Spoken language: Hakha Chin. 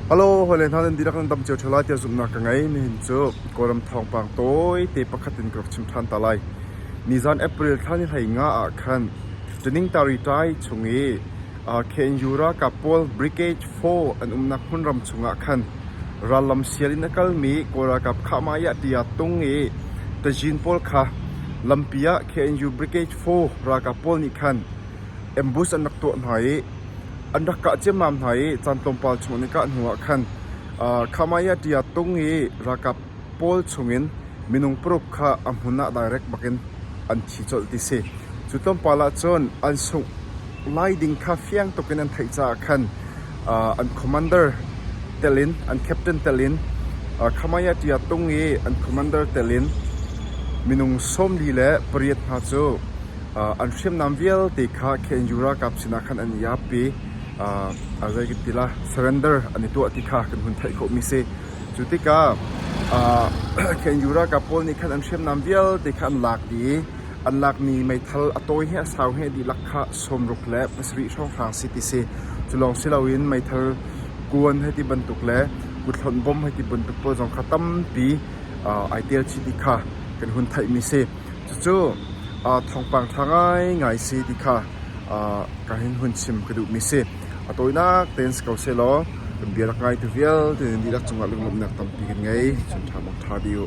Hello, hawile hna nan dihlak nan tam cio ṭheo lai tiah zumhnak ka ngei. Nihin cu Kawlram thawngpang tawite pakhat in ka rak chim ṭhan ta lai. Nizan April thla ni hlei nga ah khan ṭaning taritai chung i KNU ralkap pawl Brigade 4 an umnak hmun ram chungah khan rallam sial in a kalmi Kawl ralkap Khahmaya tiah tung i tazin pawl kha lampi ah KNU Brigade 4 ralkap pawl nih khan ambush an rak tuah hna i an rak kah ciammam hna i caan tlawmpal chung an i kah hnuah khan Khamaiah ṭia tung i ralkap pawl chungin minung paruk kha a hmun ah direk bakin an thi colh ti a si. Cu tlawmpal ah cun an sungh lai ding kha fiang tukin an theih caah khan an commander telin an captain telin Khamaiah ṭia tung i an commander telin minung sawmli le pariat hna cu an hriamnam vialte kha KNU ralkap sinah khan an i ap i zei kan ti la surrender an i tuah ti kha kan hun theih khawhmi si. Cu tikah KNU ralkap pawl nih khan an hriamnam vialte kha an lak i an lakmi meithal a tawi he a sau he dihlak kha sawmruk le pasarih hrawnghrang si ti si. Cu lawng si loin meithal kuan hei ti bantuk le kuthlawnh bom hei ti bantuk pawl zong kha tampi ai tel chih ti kha kan hun theihmi si. Cucu thawngpang ṭha ngaingai si ti kha ka hin hun chim ka duhmi si. A tawinak tein si ko sehlaw kan bia rak ngai tu vialte nih dihlak cungah lunglawmhnak tampi kan ngei. Chim ṭha bawk ṭha dih u.